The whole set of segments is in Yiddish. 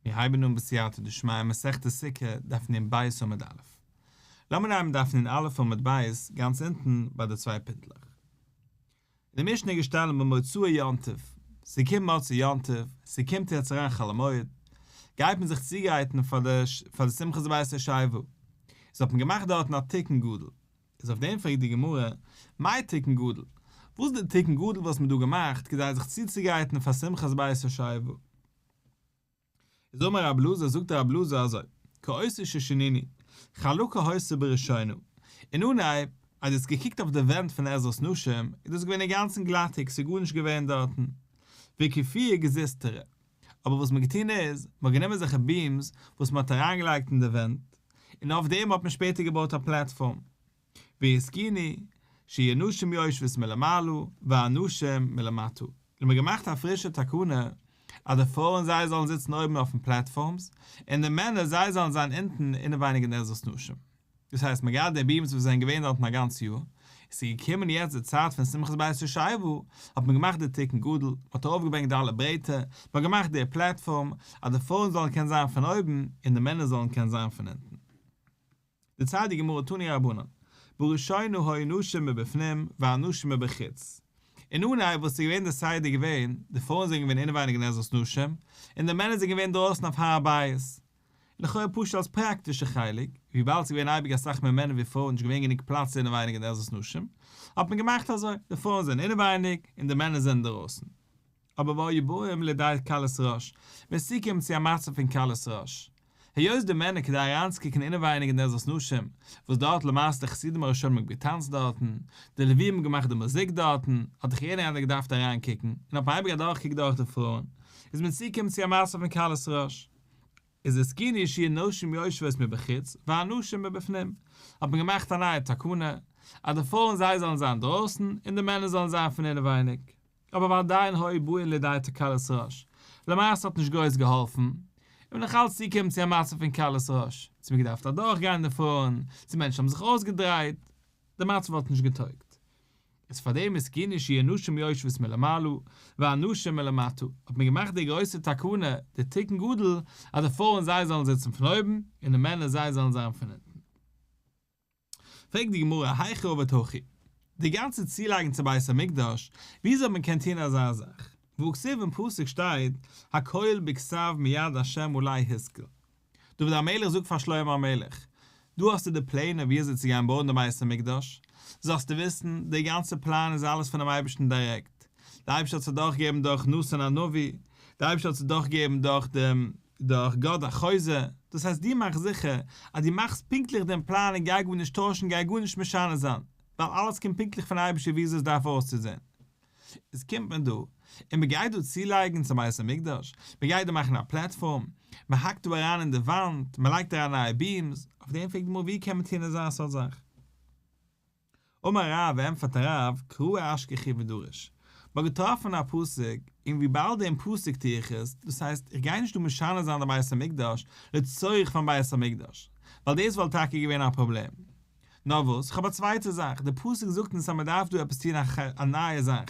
מיר הייבן אן בסייעתא דשמיא מסכת סוכה דף נ ב עמוד א'. לאמיר הייבן דף נ א עמוד ב' גאנץ אונטן ביי די צוויי פינטלעך. אין די משנה איז געשטאנען במוצאי יום טוב, ס'קומט מוצאי יום טוב, ס'קומט יעצט אריין חול המועד, גייט מען זיך צוגרייטן פאר די שמחת בית השואבה, איז האט מען געמאכט דארטן א תיקון גדול. איז אויף דעם פרעגט די גמרא, מאי תיקון גדול? וואס איז דער תיקון גדול וואס מ'האט דא געמאכט כדי זיך צוצוגייטן פאר שמחת בית ישעי' ו. איז אמר רב אלעזר זאגט רב אלעזר אזוי, כעוסו ששינינו, חלקה העושה בראשינו, אין אנהייב אז דו האסט געקוקט אויף די ווענט פון עזרת נשים איז דאס געווען אינגאנצן גלאטיג ס'איז גארנישט געווען דארטן, וכפיר גזיזתרא. אבער וואס מ'האט געטון איז, מ'האט גענומען אזעלכע ביעמס וואס מ'האט אריינגעלייגט אין די ווענט, און אויף דעם האט מען שפעטער געבויט א פלאטפארם. והזקיני, שיהיו נשים יושבות מלמעלה, והנשים מלמטה. האט מען געמאכט א פרישע תקנה, אז די פרויען זיי זאלן זיצן אויבן אויפן פלאטפארמס, און די מענער זיי זאלן זיין אונטן אינעווייניג אין עזרת נשים. דאס הייסט מען גייט די בימס וואס זענען געווען דארטן א גאנץ יאר, עס איז געקומען יעצט די צייט פון שמחת בית ישעיהו, האט מען געמאכט די תיקון גדול, מען האט ארויפגעברענגט די אלע ברעטער, מען האט געמאכט די פלעטפארם, אז די פרויען זאלן קענען זיין פון אויבן, און די מענער זאלן קענען זיין פון אונטן. די צייט די גמרא תני רבנן, בראשינו היו נשים מבפנים והנשים מבחוץ, אין אן א וואס איז געווען די סדר געווען, די פרויען זענען געווען אינעווייניג נעזות נשים, און די מענער זענען געווען דרויסן אויף הר הבית, לכאורה פשוט אלס פראקטישע חלק, וויבאלד ס'איז געווען אייביג אסאך מער מענער ווי פרויען, נישט געווען גענוג פלאץ אינעווייניג אין די עזרת נשים, האט מען געמאכט אזוי, די פרויען זענען אינעווייניג און די מענער זענען אינדערויסן. אבער והיו באים לידי כלות ראש, ווען ס'קומט צו א מצב פון כלות ראש, היות די מענער כדי אריינצוקוקן אינעווייניג אין די עזרת נשים, וואס דארט למעשה די חסידים הראשונים האבן געטאנצט דארטן, די לווים האבן געמאכט די מוזיק דארטן, האט דאך יעדער איינער געדארפט אריינקוקן, און האט מען אייביג אדורכגעקוקט דורך די פרויען, איז מען צוגעקומען צו א מצב פון כלות ראש. איז עסקני אישי נשים יושבות מבחוץ והנשים מבפנים האט מען געמאכט א נייע תקנה אז די פרויען זיי זאלן זיין דרויסן און די מענער זאלן זיין פון אינעווייניג אבער ועדיין הוי בועין לידי תקלת ראש למעשה האט נישט גרויס געהאלפן און נאך אלץ צוגעקומען צו א מצב פון קלות ראש צו מען געדארפט אדורכגיין די פרויען צו מענטשן האבן זיך אויסגעדרייט די מצב האט נישט געטויגט. איז פאר דעם איז כי נשי אנשים יושבות מלמעלה ואנשים מלמטה האט מען געמאכט די גרויסע תקנה די תיקון גדול אז די פרויען זיי זאלן זיצן פון אויבן און די מענער זיי זאלן זיין פון אונטן פרעגט די גמרא היכי עובד הכי די גאנצע צולייגן צו בית המקדש וויאזוי האט מען געקענט טון אזא זאך וכסוף אין פסוק שטייט הכל בכסף מיד השם אולי השכל דוד המלך זאגט פאר שלמה המלך, דא האסטו די פלענער ווי אזוי צו גיין בויען די בית המקדש, זאלסטו וויסן, די גאנצע פלאן איז אלעס פונעם אייבערשטן דירעקט, די אייבערשטער האט עס אדורכגעגעבן דורך נתן הנביא, די אייבערשטער האט עס אדורכגעגעבן דורך דעם דורך גד החוזה, דאס הייסט דו מאך זיכער אז דו מאכסט פונקטליך דעם פלאן און גיי גארנישט טוישן גיי גארנישט משנה זיין, ווייל אלעס קומט פונקטליך פון אייבערשטער ווי אזוי עס דארף אויסצוזען. איז קומט מען דא און מען גייט דא צולייגן צום בית המקדש, מען גייט דא מאכן א פלעטפארם, מען האקט דא אריין אין די וואנט, מען לייגט אריין נייע ביעמס, אויף דעם פרעגט די גמרא ווי קען מען טון אזא סארט זאך? אמר רב, ענטפערט הרב, קרא אשכחי ודרש, מען האט געטראפן א פסוק, און ווי באלד דעם פסוק טו איך עס, דאס הייסט איך גיי נישט דא משנה זיין די בית המקדש לצורך פארן בית המקדש, ווייל דאס וואלט טאקע געווען א פראבלעם. נאר וואס, כ'האב א צווייטע זאך, די פסוק זאגט אונז אז מען דארף דא עפעס טון א ח א נייע זאך,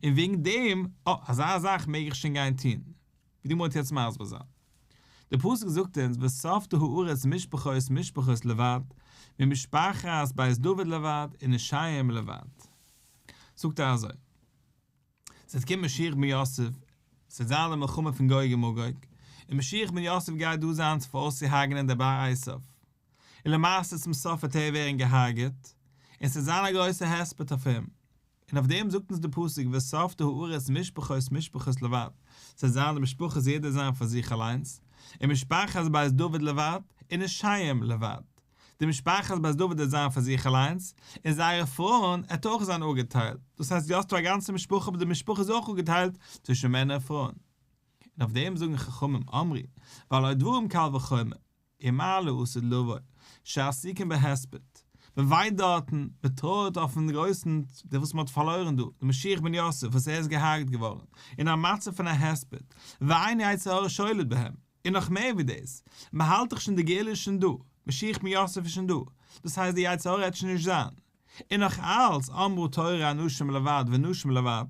און וועגן דעם, אה, אזא זאך מעג איך שוין גיין טון, ווי דו מוזט יעצט מסביר זיין. די פסוק זאגט אונז וספדו הארץ משפחות משפחות לבד, ממשפחת בית דוד לבד און נשיהם לבד. זאגט ער אזוי. ס'וועט קומען משיח בן יוסף, ס'וועט זיין די מלחמה פון גוג און מגוג, און משיח בן יוסף גייט דא זיין צו פאראויסצוהארגענען די בית אייסף, און למעשה צום סוף וועט ער ווערן געהארגעט, און ס'וועט זיין א גרויסע הספד אויף אים, און אויף דעם זאגט אונז די פסוק וספדו הארץ משפחות משפחות לבד, ס'וועט זיין די משפחות יעדער זיין פאר זיך אליינס, און משפחת בית דוד לבד, און אישיים לבד. די משפחת בית דוד האט זיין פאר זיך אליינס, און זייערע פרויען האט אויך זיין אפגעטיילט, דאס הייסט דו האסט דא א גאנצע משפחה אבער די משפחה איז אויך אפגעטיילט צווישן מענער און פרויען. און אויף דעם זאגן חכמים אמרי ועלי דברים קל וחומר, אי מה לעשות לווי שעסוקין בהספד, מען וויינט דארטן, מען טרויערט אויפן גרויסן דער וואס מען האט פארלוירן דא, דער משיח בן יוסף וואס ער איז געהארגט געווארן אין א מצב פון א הספד, ועיני יצר הרע שולט בהם. און נאך מער ווי דאס, מען האלט דאך שוין די גאולה איז שוין דא, משיח בן יוסף איז שוין דא, דאס הייסט די יצר הרע העט שוין נישט זיין. און נאך אלץ, אמרו תורה אנשים לבד ונשים לבד,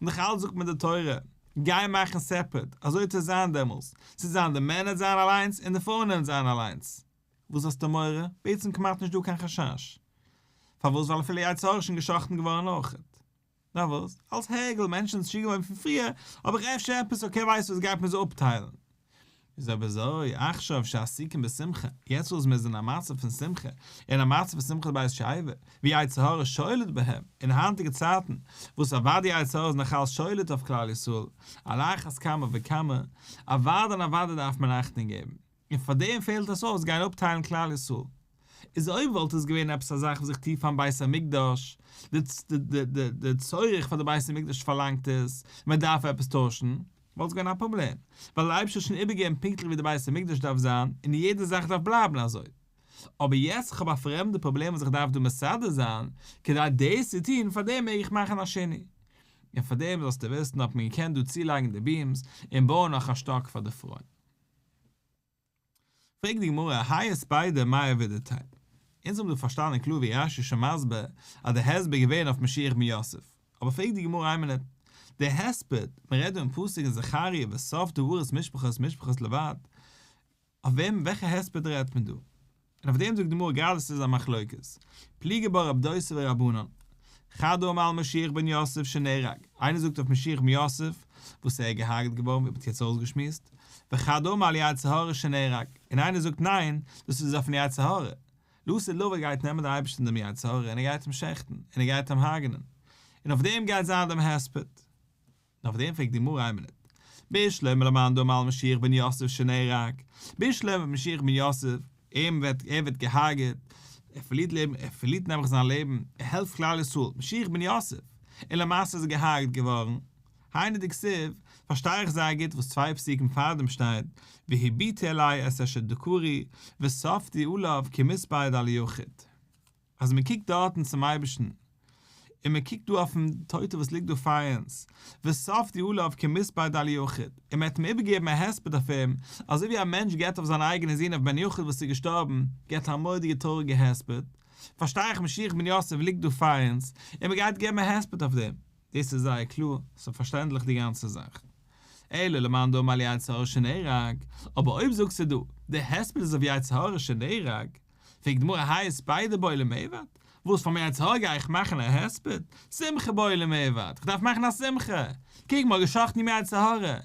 נאך אלץ זאגט מען די תורה, גיי מאכן סעפערעט, אזוי וועט עס זיין דעמאלס, ס'וועט זיין די מענער וועט זיין אליינס און די פרויען וועלן זיין אליינס. וואס האסטו מורא? בעצם כמעט נישט דא קיין חשש. פארוואס? ווייל אפילו יצר הרע איז שוין גע'שחט'ן געווארן אויך. נאר וואס? אלס הרגל מענטשן איז שיגעווען פון פריער, האב איך אפשר עפעס אקער ווייסט וואס גייט מיר זיי אפטיילן. איז אבער אזוי, עכשיו שעסוקים בשמחה, יעצט וואס מיר זענען אין א מצב פון שמחה, אין א מצב פון שמחת בית שואבה, ווי יצר הרע שולט בהם, אין היינטיגע צייטן, וואס אוודאי די יצר הרע איז נאכאלס שולט אויף כלל ישראל, על אחת כמה וכמה, אוודאי און אוודאי דארף מען אכטונג געבן. און פאר דעם פעלט עס אויס גיין אפטיילן כלל ישראל, איז אויב וואלט עס געווען עפעס א זאך וואס איך טו פארן בית המקדש, די צורך פאר די בית המקדש פארלאנגט עס, מען דארף עפעס טוישן, וואלט עס געווען א פראבלעם, ווייל דער אייבערשטער האט שוין איבערגעגעבן פונקטליך ווי די בית המקדש דארף זיין, און יעדע זאך דארף בלייבן אזוי. אבער יעצט איך האב א פרעמדע פראבלעם וואס איך דארף דא מסדר זיין, כדי דאס צו טון, פאר דעם מעג איך מאכן א שני, און פאר דעם זאלסטו וויסן האט מען געקענט דא צולייגן די ביעמס, און בויען נאך א שטאק פאר די פרויען. פרעגט די גמרא, היה ספיידא מאי עבידתיה? אונז האבן דא פארשטאנען קלאר ווי רש י איז שוין מסביר אז די הסבר איז געווען אויף משיח בן יוסף, אבער פרעגט די גמרא איין מינוט, דער הספד, מען רעדט דא אין פסוק אין זכריה וסוף דברות משפחות משפחות לבד, אויף וועם וועלכע הספד רעדט מען דא? און אויף דעם זאגט די גמרא גראדע ס'איז א מחלוקת פליגי בה רב דוסי ורבנן חד הוא אמר על משיח בן יוסף שנהרג, איינער זאגט אויף משיח בן יוסף וואס ער איז געהארגעט געווארן ווי מען האט יעצט אויסגעשמועסט, וחד הוא אמר על יצר הרע שנהרג, און איינער זאגט ניין דאס איז אויפן יצר הרע, לעשה לו ער גייט נעמען דעם אייבערשטן דעם יצר הרע און ער גייט אים שעכטן און ער גייט אים הרג'נען, און אויף דעם גייט זיין דעם הספד. און אויף דעם פרעגט די גמרא איין מינוט, בישלום אלא מאן דאמר על משיח בן יוסף שנהרג, בישלום ווען משיח בן יוסף, אים וועט, ער ווערט געהארגעט, ער פארלירט לעבן, ער פארלירט נעבעך זיין לעבן, ער העלפט כלל ישראל, משיח בן יוסף, און למעשה איז ער געהארגעט געווארן, היינו דכסיב, פארשטיי איך זייער גוט וואס צוויי פסוקים פארדעם שטייט, והביתי אלי את אשר דקרוני, וספדי אליו כמספר דל יחיד. אז מען קוקט דארטן צום אייבערשטן, און מען קוקט דא אויפן טויטע וואס ליגט דא פאר אונז, וסוף די עליו כמספר די אליאכיד, און מען האט אים איבערגעגעבן א הספד אויף אים, אזוי ווי א מענטש געבט אויף זיין אייגענע זון אויף בן יחיד וואס איז געשטארבן, געבט א מורא'דיגע טרויעריגע הספד, פארשטיי איך משיח בן יוסף ליגט דא פאר אונז, און מען גייט געבן א הספד אויף דעם, דאס איז זייער קלאר, ס'איז פארשטענדליך די גאנצע זאך. אלא למאן דאמר על יצר הרע שנהרג, אבער אויב זאגסטו דא, די הספד איז אויף יצר הרע שנהרג, פרעגט די גמרא הייסט ביידע בעולם עבד? וואס פאר מער א צרה גיי איך מאכן א הספד? שמחה בעולם עבד, כ'דארף מאכן א שמחה! קוק מ'האט גע'שחט'ן ימי הצהרה,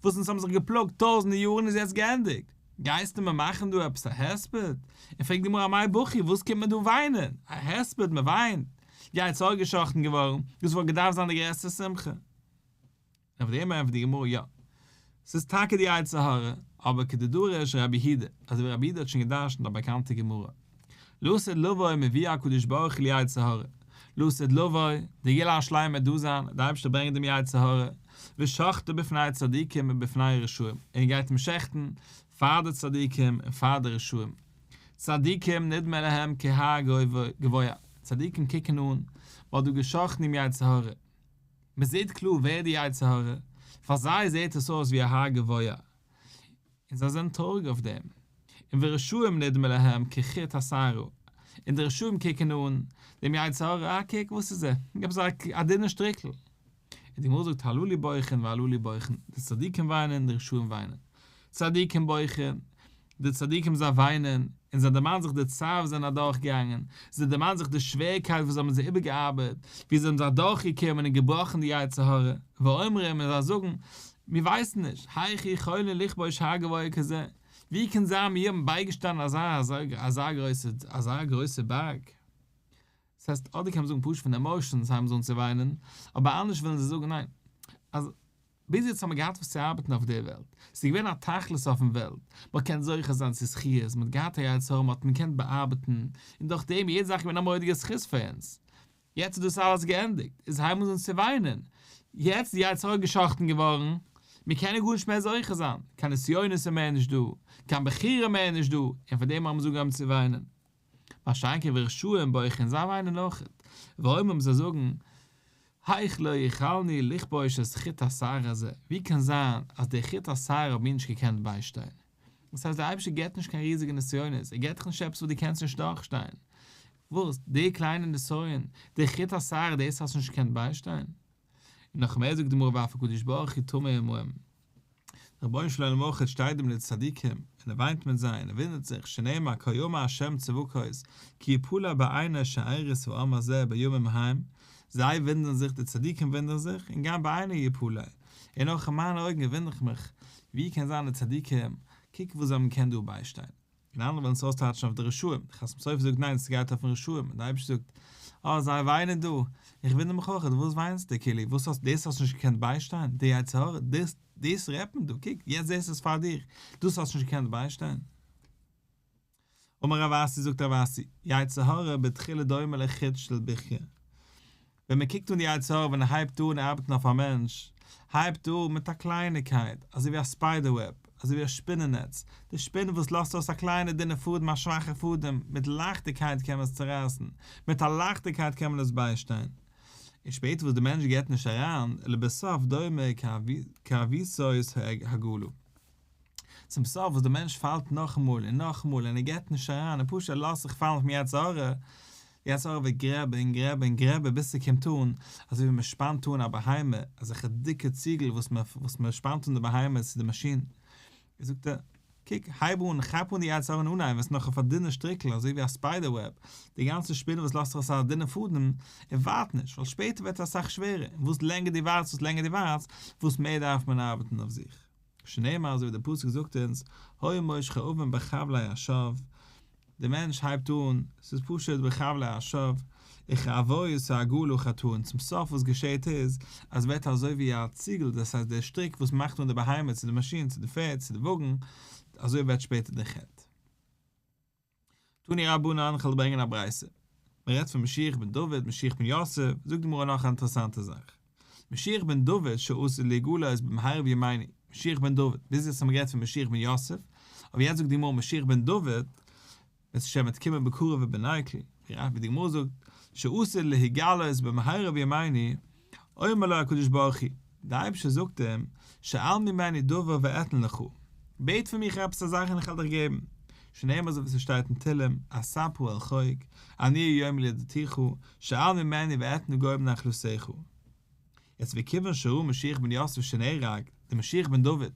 וואס אונז האבן זיך געפלאגט טויזענטע יארן איז יעצט געענדיגט, גייסטו מיר מאכן דא עפעס א הספד? און פרעגט די גמרא מאי בכי וואס קומט מען דא וויינען? א הספד מ'וויינט? יי צהר גע'שחט'ן געווארן, דאס וואלט געדארפט זיין די גרעסטע שמחה. ענפער אים ענפערט די גמרא יא ס'איז טאקע די יצר הרע אבער כדי דורש ר' אבי הידע אזוי ווי ר' אבי הידע האט שוין גע'דרש'נט א באקאנטע גמרא לא סוד לבו מביא הקדוש ברוך הוא ליצר הרע לא סוד לבו די גאולה השלימה דא זיין די אייבערשטער ברענגט דעם יצר הרע ושחטו בפני צדיקים ובפני רשעים און ער גייט אים שעכטן פאר די צדיקים און פאר די רשעים צדיקים נדמה להם כהר גבוה צדיקים קוקן אן מ'האט דא גע'שחט'ן דעם יצר הרע מען זעט קלאר ווער די יצר הרע, פאר זיי זעט עס אויס ווי א הר גבוה, און זיי זענען טרויעריג אויף דעם, און ורשעים נדמה להם כחוט השערה, און די רשעים קוקן אן דעם יצר הרע, אה קוק וואס איז ער, געב זיי א דינע שטריקל, און די גמרא זאגט הללו לי בויכען והללו לי בויכען, די צדיקים וויינען און די רשעים וויינען, צדיקים בויכען, די צדיקים זיי וויינען, און זיי דערמאנען זיך די צער וואס זיי זענען אדורך געגאנגען, זיי דערמאנען זיך די שוועריקייט וואס זיי האבן זיי איבערגעארבעט, ווי זיי האבן זיך אדורך געקומען און געבראכן די יצר הרע, ואומרים און זיי זאגן, מיר ווייסן נישט, היכי חולין לכבוש הר גבוה כזה, ווי קען זיין מיר האבן בייגעשטאנען אזא אזא גרויסע אזא גרויסע בארג? ס'הייסט אדער קען מען זאגן פשוט פון עמאושענס הייבן זיי אן צו וויינען, אבער אנדערש ווילן זיי זאגן ניין. אז ביז יעצט האט מען געהאט וואס צו ארבעטן אויף דער וועלט, ס'איז געווען א תכלית אויפן וועלט, מ'האט געקענט זוכה זיין צו זכיות, מ'האט געהאט א יצר הרע מ'האט מ'קענט באארבעטן, און דורך דעם יעדע זאך איז געווען א מורא'דיגע זכות פאר אונז. יעצט איז דאס אלעס געענדיגט, איז הייבן זיי אן צו וויינען. יעצט איז די יצר הרע גע'שחט'ן געווארן, מיר קענען גארנישט מער זוכה זיין, קיין נסיונות איז מער נישט דא, קיין בחירה מער איז נישט דא, און פאר דעם הייבן זיי אן צו וויינען. ביי שיינקער ורשו ם בויך און זיי וויינען אויכעט, ווארום אויב זיי זאגן, היכ ל יכלני לכבוש את חוט השערה הזה, ווי קען זיין אז די חוט השערה האב מיר נישט געקענט ביישטיין? דאס הייסט דער אייבערשטער געבט נישט קיין ריזיגע נסיונות, ער געבט דיך נישט עפעס וואס דו קענסט נישט דורכשטיין, וואס, די קליינע נסיון, די חוט השערה דאס האסט נישט געקענט ביישטיין? און נאך מער זאגט די גמרא ואף הקדוש ברוך הוא טמא עמהם, דער רבונו של עולם אויך שטייט דא מיט די צדיקים און ער וויינט מיט זיי און ער ווינדערט זיך, שנאמר כה יאמר ה' צבקות כי יפולא בעיני שארית העם הזה בימים ההם, זיי ווינדערן זיך, די צדיקים ווינדערן זיך, און גם בעיני יפולא, און אויך אין מיינע אויגן ווינדער איך מיך, ווי קען זיין די צדיקים, קוק וואס זיי האבן געקענט דא ביישטיין. און אנדערע ווילן עס אויסטייטשן אויף די רשעים, די חתם סופר זאגט ניין ס'גייט אויפן רשעים, און די אייבערשטער זאגט אה זיי וויינען דא, איך וואונדער מיך אויכעט וואס וויינסטו כאילו וואס האסט דאס האסט נישט געקענט ביישטיין, די יצר הרע, דאס דאס רעדט מען דא, קוק יעצט זעסטו עס פאר דיר, דאס האסט נישט געקענט ביישטיין. אמר רב אסי זאגט רב אסי, יצר הרע בתחילה דומה לחוט של ברכיה, ווען מען קוקט אן די יצר הרע ווען ער הייבט אן ארבעטן אויף א מענטש, הייבט ער אן מיט א קלייניקייט, אזוי ווי א ספיידער וועב, אזוי ווי א שפינען נעץ, די שפין וואס לאזט אויס א קליינע דינע פאדעם א שוואכע פאדעם, מיט לייכטיגקייט קען מען עס צורייסן, מיט א לייכטיגקייט קען מען עס ביישטיין, און שפעטער וואס דער מענטש געבט נישט אריין, לבסוף דומה כאביסות העגלה. צום סוף וואס דער מענטש פאלט נאכאמאל און נאכאמאל און ער געבט נישט אריין און פשוט ער לאזט זיך פאלן אויפן יצר הרע, דער יצר הרע וועט גרעבן און גרעבן און גרעבן ביז ס'קומט אן אזוי ווי מ'שפאנט אן א בהמה, אזעלכע דיקע ציגל וואס מ'וואס וואס מ'שפאנט אן די בהמה צו די מאשין, און זאגט ער, קוק, הייב אן, כאפ אן די יצר הרע און אנהייב וועסטו נאך אויף א דינע שטריקל אזוי ווי א ספיידער וועב, די גאנצע שפינעל וואס לאזט זיך אויס אזא דינע פאדן און ווארט נישט, ווייל שפעטער ווערט עס אסאך שווערער, און וואס לענגער דו ווארטסט וואס לענגער דו ווארטסט, וואס מער דארף מען ארבעטן אויף זיך. שנאמר אזוי ווי די פסוק זאגט אונז הוי מושך אבן בחבלי האשוב, די מענטש הייבט אן, ס'איז פשוט בחבלי האשוב, וכעבוי סהגו לו חטאן, צום סוף וואס געשעהט איז, אז ווערט אזוי ווי א ציגל, דאס הייסט דער שטריק וואס מאכט אן די בהמה צו די מאשין צו די פערד צו די וואגן, אזוי ווערט שפעטער דער חטא. תני רבנן, כ'וועל דיר ברענגען א ברייתא. מ'רעדט פון משיח בן דוד, משיח בן יוסף, זאגט די גמרא נאך א אינטערעסאנטע זאך. משיח בן דוד שעשה לי גאולה איז במהרב ימיני, משיח בן דוד, ביז יעצט האט מען גערעדט פון משיח בן יוסף, אבער יעצט זאגט די גמרא משיח בן דוד, בעז ש וועט קומען בקרוב ובנעיקל, ווי די גמרא זאגט, שעשה לי גאולה איז במהרב ימיני, אומר לו הקדוש ברוך הוא, דער אייבערשטער זאגט אים, שאל ממני דבר ואתן לך, בעט פון מיך עפעס א זאך און איך וועל דיך געבן, שנאמר אזוי ווי ס'שטייט אין תהלים, אספ ה על חוק, אני היום לידתיך, שאל ממני ואתן גוים נחלתיך. יעצט וכיוון שראה משיח בן יוסף שנהרג, דער משיח בן דוד,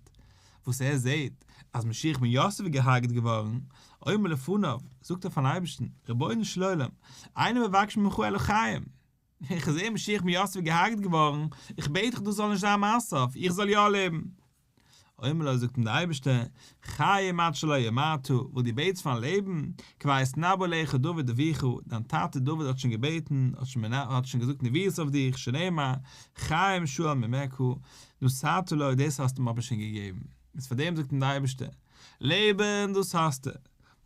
וואס ער זעט אז משיח בן יוסף איז געהארגעט געווארן, אומר לפניו, זאגט ער פארן אייבערשטן, רבונו של עולם, אנא מבקש ממך אלוקיהם, איך זעה משיח בן יוסף איז געהארגט געווארן, איך בעט דיך דאס זאל נישט זיין מיין סוף, איך זאל יא לעבן. אומר לו, זאגט אים דער אייבערשטער, חיים עד שלא ימעטו, וואס דו בעטסט פארן לעבן, כבר התנבא לך דוד אביך, דיין טאטע דוד האט שוין געבעטן, האט שוין געזאגט נביאות אויף דיך, שנאמר, חיים שאול ממך, נשאתו לו, דאס האסטו מיר אבער שוין געגעבן. איז פאר דעם זאגט אים דער אייבערשטער, לעבן, דאס האסטו,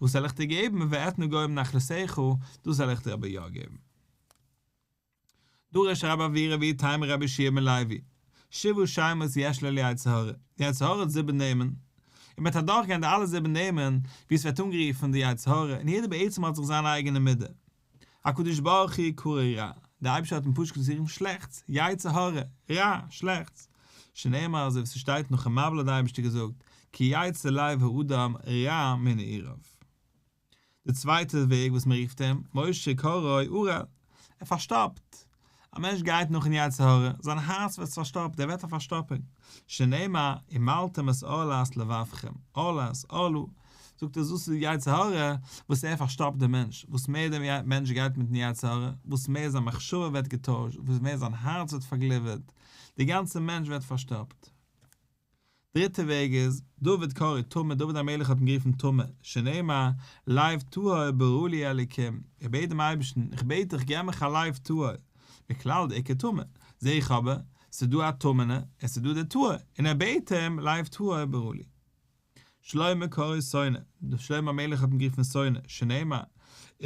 וואס זאל איך דיר געבן, ואתנה גוים נחלתך, דאס זאל איך דיר אבער יא געבן. דא ר' שרייב אבי רבי טיימע רבי שיע מלייבי שבו שיימות יש ל ליצר הרע, די יצר הרע האט זיבן נעמען, און מ'וועט אדורך גיין די אלע זיבן נעמען ווי עס ווערט אנגערופן די יצר הרע, און יעדער בעצם האט זיך זיין אייגענע מידה, הקדוש ברוך הוא קרא רע, די אייבישטער האט אים פשוט געזאגט צו רופן שלעכטס, יצר הרע, רע, שלעכטס, שנאמר אזוי ווי ס'שטייט נאכן מבול האט די אייבישטער געזאגט, כי יצר לב האדם רע מנעוריו. די צווייטע וועג וואס מען רופט אים, משה קרוי אוראל, ער פארשטאפט. א מענטש גייט נאכן יצר הרע, זיין הארץ ווערט פארשטאפט, ער ווערט א פארשטאפונג. שנאמר, אם מלתם את עולת לבבכם, עולת, עולה, זאגט ער, דאס איז די יצר הרע, וואס ער פארשטאפט דעם מענטש. וואס מער דער מענטש גייט מיטן יצר הרע, וואס מער זיין מחשבה ווערט געטוישט, וואס מער זיין הארץ ווערט פארגליווערט, דער גאנצער מענטש ווערט פארשטאפט. דריטע וועג איז, דוד קרא טמא, דוד המלך האט אים גערופן טמא, שנאמר, לייב טהור ברא לי אלוקים, איך בעט דעם אייבערשטן, איך בעט דיך געב מיך א לייב טהור, מכלל די עיקר טמא, זע איך אבער, עס איז דא א טמא'נע, עס איז דא דער טהור, און ער בעט אים, לייב טהור ברא לי. שלמה קרא שונא, שלמה המלך האט אים גערופן שונא, שנאמר,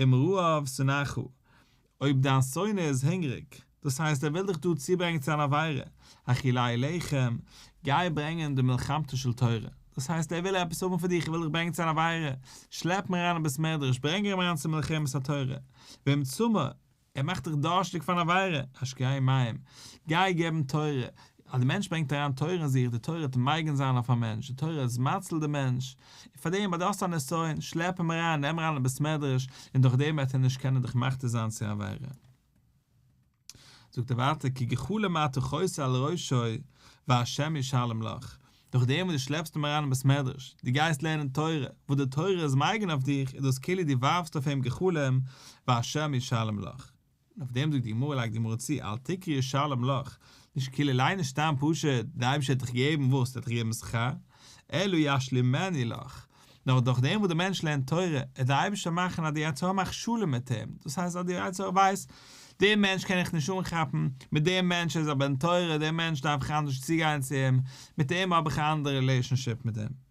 אם רעיו שנאיך הוא, אויב דיין שונא איז הונגעריג, דאס הייסט ער וויל דיך דא צוברענגען צו אן עבירה, האכילי לחם, גיי ברענגען די מלחמתו של תורה, דאס הייסט ער וויל עפעס האבן פון דיר, כ'וויל דיך ברענגען צו אן עבירה, שלעפ אים אריין אין בית מדרש, ברענג אים אריין צו מלחמת התורה, ואם צמא, ער מאכט דיך דארשטיג פארן עבירה, השקיה מים, גיי געבן תורה, אז דער מענטש ברענגט אריין תורה אין זיך, די תורה וועט מגין זיין אויף א מענטש, די תורה איז מציל די מענטש, און פאר דעם אז דו האסט א נסיון, שלעפ אים אריין, נעם אריין אין בית מדרש, און דורך דעם וועט ער נישט קענען דיך מכתיר זיין צו עבירה. זאגט ער ווייטער, כי גחולה מה אתה חוסה על ראשו, והשם ישלם לך, דורך דעם וואס דו שלעפסט אים אריין אין בית מדרש, דו גייסט לערנען תורה, וואס די תורה איז מגין אויף דיך, איז דאס כאילו דו ווארפסט אויף אים גחלים, והשם ישלם לך. און אויף דעם זאגט די גמרא לייגט די גמרא צו אל תקרא ישלם לך, נישט כאילו ליין נישט סתם פשוט, די אייבערשטער וועט דיך געבן וואס? ער וועט דיך געבן שכר, אלא ישלימני לך, נאר דורך דעם וואס דער מענטש לערנט תורה, וועט דער אייבערשטער מאכן אז די יצר הרע מאכט שלום מיט אים, דאס הייסט אז די יצר הרע ווייסט, דער מענטש קען איך נישט אנכאפן, מיט דעם מענטש איז א בן תורה, דעם מענטש דארף איך אנדערש צוגיין צו אים, מיט אים האב איך א אנדערע רילעישאנשיפ מיט אים.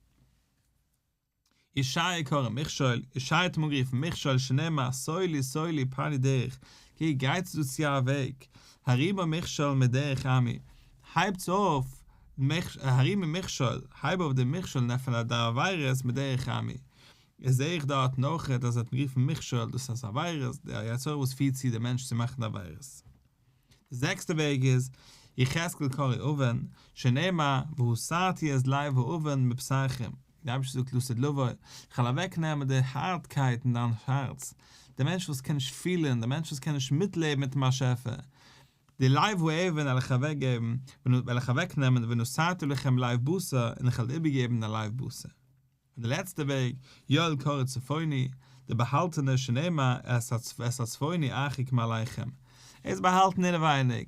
ישעיה קרא מכשול, ישעיה האט אים אנגערופן מכשול שנאמר סולי סולי פני דרך, קוק גייטס דא צו א וועג, הרימה מכשול מדרך עמי, הייבטס אויף הרימה מכשול, הייב אויף די מכשולן פון די עבירות מדרך עמי, עס זעה איך דארטן אויכעט אז ער האט גערופן מכשול דאס אז עבירות, די יצר הרע וואס פירט צו די מענטש צו מאכן עבירות. די זעקסטע וועג איז יחזקאל קארי אבן, שנאמר, והסרתי את לב האבן מבשרכם, דער אייבערשטער זאגט לאז את לבו, איך וועל אוועק נעמען די הארטקייט אין דיין הארץ, דער מענטש וואס קען נישט פילען, דער מענטש וואס קען נישט מיטלעבן מיטן באשעפער, די לב האבן וועל איך אוועק געבן, וועל איך אוועק נעמען, ונשאתי לכם לב בשר, און איך וועל איבער געבן דיין לב בשר. און די לעצטע וועג, יואל קרא צפוני, די באהאלטענע שנאמר את הצפוני ארחיק מעליכם. ער איז באהאלטן אינעווייניג,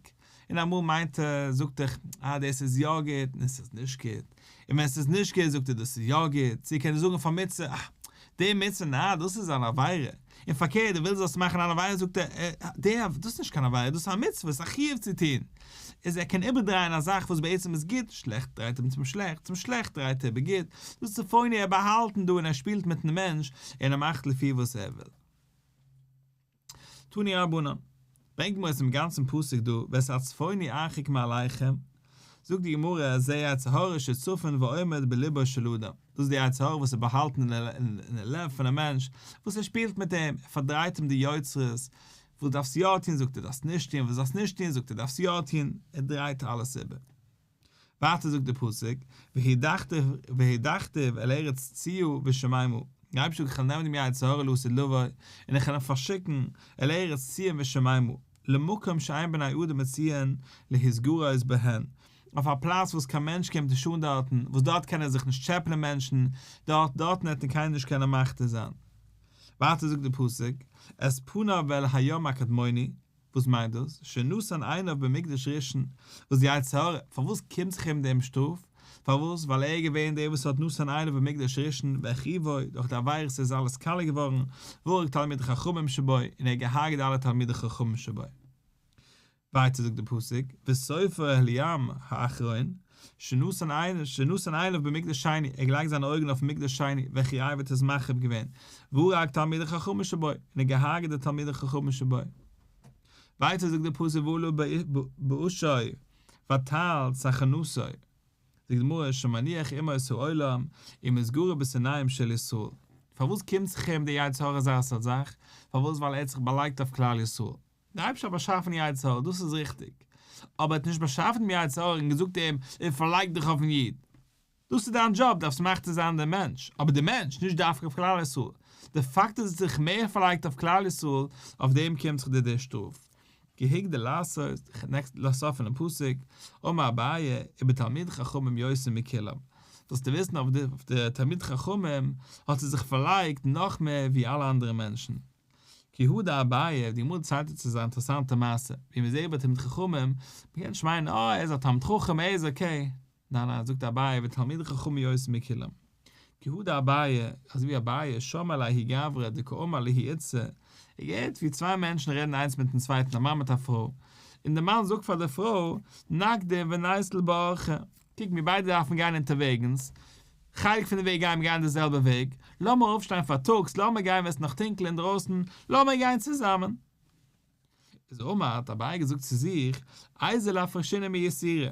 און אמאל מיינט ער, זאגט איך, אה, דאס איז יא גוט, און עס איז נישט גוט, און ווען עס איז נישט גוט זאגט ער דאס איז יא גוט, צו ער קען נישט זאגן פאר מצוה, אה, די מצוה, נעה, דאס איז אן עבירה. און פארקערט דו ווילסט דאס מאכן אן עבירה זאגט ער דער דאס איז נישט קיין עבירה דאס איז א מצוה ס'איז א חיוב צו טון איז ער קען איבערדרייען א זאך וואס בעצם איז גוט שלעכט דרייט ער אום צום שלעכט צום שלעכט דרייט ער איבער גוט דאס איז פאוני ער באהאלט און דא און ער שפילט מיטן מענטש און ער מאכט לפי וואס ער וויל תני רבנן. ברענגט מיר עס אין גאנצן פסוק דא ואת הצפוני ארחק מעליכם, זאגט די גמרא אז דער יצר הרע שצפון ועומד בלבו של אדם, דאס איז דער יצר הרע וואס איז באהאלטן אין די לב פון א מענטש, וואס ער שפילט מיט אים, ער פארדרייט אים די יוצרות, וואס דארפסטו יא טון זאגט ער דארפסט נישט טון, וואס דארפסט נישט טון זאגט ער דארפסט יא טון, ער דרייט אלעס איבער. ווייטער זאגט דער פסוק, והדחתיו אל ארץ ציו ושמימה, דער אייבערשטער זאגט איך וועל נעמען דעם יצר הרע לעשה לבוי, און איך וועל אים פארשיקן, אל ארץ ציון ושמימה, למקום שאין בני אדם מציון להתגרות בהן, אויף א פלאץ וואס קיין מענטש קומט נישט אן דארטן, וואס דארט קענען זיך נישט טשעפלען מענטשן, דארט דארטן וועט אים קיינער נישט קענען מכתיר זיין. ווייטער זאגט דער פסוק, את פניו אל הים הקדמוני, וואס מיינט דאס? שנתן עיניו במקדש ראשון, וואס די יצר הרע, פארוואס קומט זיך אים דעם שטראף? פארוואס? ווייל ער איז געווען דער וואס האט נתן עיניו במקדש ראשון, והחריבו, דורך די עבירות איז אלעס קאלעק געווארן, והרג תלמידי חכמים שבו, און ער האט געהארגעט אלע תלמידי חכמים שבו. ווייטער זאגט דער פסוק, וסופר העליאם האחרון, שנתן עיניו במקדש שני, ער האט געלייגט זיינע אויגן אויפן מקדש שני, וועלכע רבי האט עס מחריב געווען, והרג תלמידי חכמים שבו, און ער האט געהארגעט די תלמידי חכמים שבו. ווייטער זאגט דער פסוק ועלו באשו ותעל סכנתו, זאגט די גמרא שמניח עמו את העולם, און מען איז גורע בשונאים של ישראל. פארוואס קומט זיך אים דער יצר הרע אזא זאך? פארוואס? ווייל ער האט זיך באלייגט אויף כלל ישראל. דער אייבערשטער האט באשאפן יצר הרע, דאס איז ריכטיג, אבער ער האט נישט באשאפן דעם יצר הרע און געזאגט אים, און פארלייג דיך אויפן איד, דאס איז דיין דזשאב, דארפסט מחטא זיין דעם מענטש, אבער דער מענטש, נישט דווקא אויף כלל ישראל, די פאקט אז עס האט זיך מער פארלייגט אויף כלל ישראל, אויף דעם קומט זיך די די שטראף. כהיג די לעשות, ח נעקסט ל סוף פונעם פסוק, אמר אביי, איבער תלמיד חכמים יותר מכולם, זאלסטו וויסן אויף די תלמיד חכמים האט ער זיך פארלייגט נאך מער ווי אלע אנדערע מענטשן, כיהודה אביי האט געמאלדן צייטונג צו זיין אינטערעסאנטע מעשה ווי מען איז זעהבאר תלמיד חכמים, מען קען נישט מיינען אה ער איז א תלמיד חכם ער איז אקעי, ניין ניין זאגט אביי ותלמידי חכמים יותר מכולם, כיהודה אביי אזויווי אביי שמע לאהי גברא דקאמר לאהי איצא, ער געהערט ווי צוויי מענטשן רעדן איינס מיטן צווייטן א מאן מיט א פרוי, און דער מאן זאגט פאר דער פרוי נקדים ונייסל בארכה. קוק מיר ביידע דארפן גיין אונטערוועגנס, חלק פון די וועג גייען מיר גיין די זעלבע וועג, לאמיר אויפשטיין פארטאגס, לאמיר גיין ווען עס איז נאך טונקל אינדרויסן, לאמיר גיין צוזאמען. איז אמר, האט אביי געזאגט צו זיך, איז על הפרשינו מי יסירה,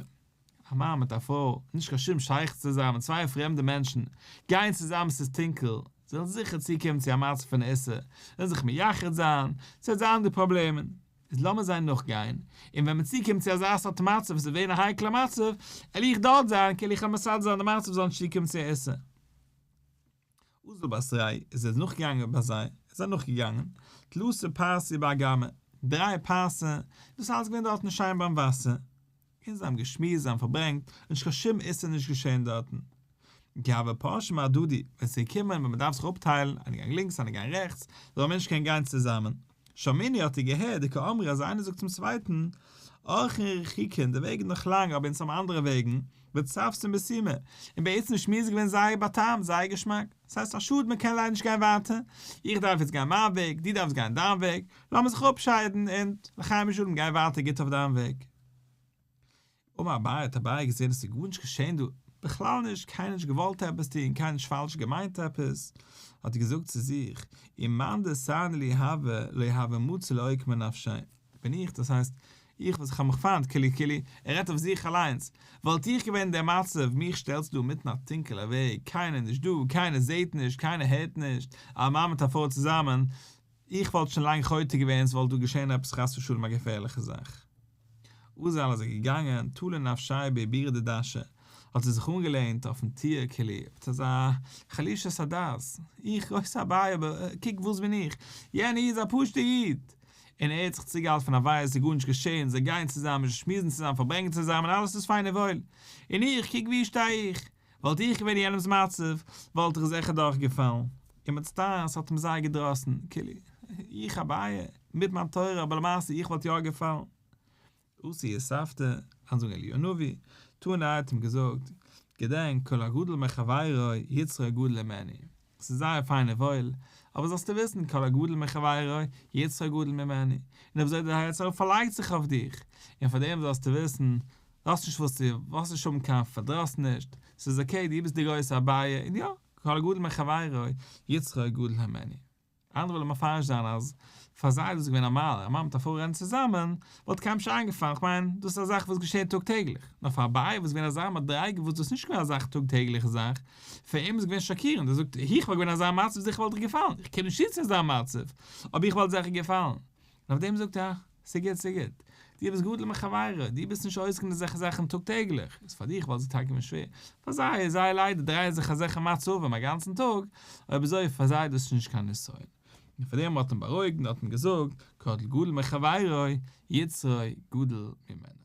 א מאן מיט א פרוי, נישט קיין שום שייכות צוזאמען, צוויי פרעמדע מענטשן, גייען צוזאמען עס איז טונקל, זיי וועלן זיכער צוקומען צו א מצב פון איסור, זיי וועלן זיך מייחד זיין, ס'וועט זיין די פראבלעמען. איז לאמיר זיי נאכגיין, און ווען מען צוקומט צו אזא סארט מצב, וואס איז געווען א הייקלער מצב, על איך דארט זיין, כאילו איך וועל מסדר זיין די מצב זאל נישט צוקומען צו עיסה. אזל באסריי איז ער נאכגעגאנגען ביי זיי, ער איז זיי נאכגעגאנגען, תלסה פרסי באגמע, דריי פרסה, דאס אלעס געווען דארטן שיין ביים וואסער, און זיי האבן געשמועסט, זיי האבן פארברענגט, און נישט קיין שום איסור איז נישט געשען דארטן. גאוה פרשים הדדי, ווען ס'איז געקומען ווען מ'דארף זיך אפטיילן, איינער גייט לינקס איינער גייט רעכטס, זאל א מענטש קענען גיין צוזאמען. שמיני האט ער געהערט די כאמרי אז איינער זאגט צום צווייטן, ארכין רחיקין, די וועג איז נאך לאנג אבער אונז האבן אנדערע וועגן, בצפת'ן בסימא, און בעצם די שמועס איז געווען זייער בטעם, זייער געשמאק. ס'הייסט א שאד מ'קען ליידער נישט גיין ווייטער, איך דארף יעצט גיין מיין וועג, דו דארפסט גיין דיין וועג, לאמיר זיך אפשיידן און לחיים בשלום גיי ווייטער גוט אויף דיין וועג. אמר אביי האט אביי געזען עס איז גארנישט געשען דא, בכלל נישט, קיינער האט נישט געוואלט עפעס טון, קיינער האט נישט פאלש געמיינט עפעס, האט ער געזאגט צו זיך, אם מאן דעסני לי הוה לי הוה מוצא לעוק מנפשי, בין איך, דאס הייסט, איך וואס איך האב מיך פיינט קולי קולי, ער רעדט אויף זיך אליינס, וואלט איך געווען אין דער מצב, מיך שטעלסטו דא אינמיטן א טונקעלער וועג, קיינער נישט דא, קיינער זעט נישט, קיינער הערט נישט, א מאן מיט א פרוי צוזאמען, איך וואלט שוין לאנג חוטא געווען עס וואלט דא געשען עפעס חס ושלום א געפערליכע זאך. אזעל איז ער געגאנגען תולה נפשי בעבירה דדשה, האט ער זיך אנגעלענט אויפן טיר קעלי, וואס אזא חלישת הדעת, איך גרויסע אביי אבער קוק וואס בין איך, יענער איד איז א פשוטע איד! און ער האט זיך צוגעהאלטן פון אביי עס איז גארנישט געשען, זיי גייען צוזאמען, זיי שמועסן צוזאמען, פארברענגען צוזאמען, אלעס איז פיין און וואויל, און איך, קוק ווי איך שטיי איך! וואלט איך געווען אין יענעמס מצב, וואלט איך זיכער דורכגעפאלן. און מצטער, ס'האט אים זייער געדראסן. כאילו, איך אביי, מיט מיין תורה, אבער למעשה איך וואלט יא געפאלן. עשי אספת, אנזאגן אליהו הנביא, טאן ער האט אים געזאגט, געדענק, כל הגדול מחברו, יצרו הגדול ממנו. ס'איז זייער פיין און וואויל, אבער זאלסטו וויסן, כל הגדול מחבירו, יצרו גדול ממני, און אזוי דער יצר פארלייגט זיך אויף דיך, און פאר דעם זאלסטו וויסן, לאזט נישט וואס דו וואלסט נישט האבן קיין פארדראס נישט, ס'איז אקעי, דו ביסט דער גרויסער אביי, און יא, כל הגדול מחבירו, יצרו גדול ממני. אנדערע ווילן מפרש זיין אז פאר זיי איז דאס געווען א מעלה, א מאן מיט א פרוי רעדן צוזאמען, וואלט קיינעם נישט איינגעפאלן, איך מיין דאס איז א זאך וואס געשעט טאג טעגליך, נאר פאר אביי וואס איז געווען אזא מדריגה וואס דאס איז נישט געווען אזא טאג טעגליכע זאך, פאר אים איז געווען שאקירנד, ער זאגט, איך וואלט געווען אין אזא מצב זיכער וואלט איך געפאלן, איך קען נישט צוציען אזא מצב, אבער איך וואלט זיכער געפאלן. און אויף דעם זאגט ער, ס'גוט ס'גוט, דו ביסט גדול מחבריך, דו ביסט נישט עוסק אין אזעלכע זאכן טאג טעגליך, איז פאר דיך וואלט זיך טאקע געווען שווער, פאר זיי איז זייער ליידער דרייען זיך אזעלכע מצבים אגאנצן טאג, אויב אזוי איז פאר זיי דאס נישט קיין נסיון. און פאר דעם האט אים בארואיגט און האט אים געזאגט, קטל גדול מחברו, יצרו גדול ממנו.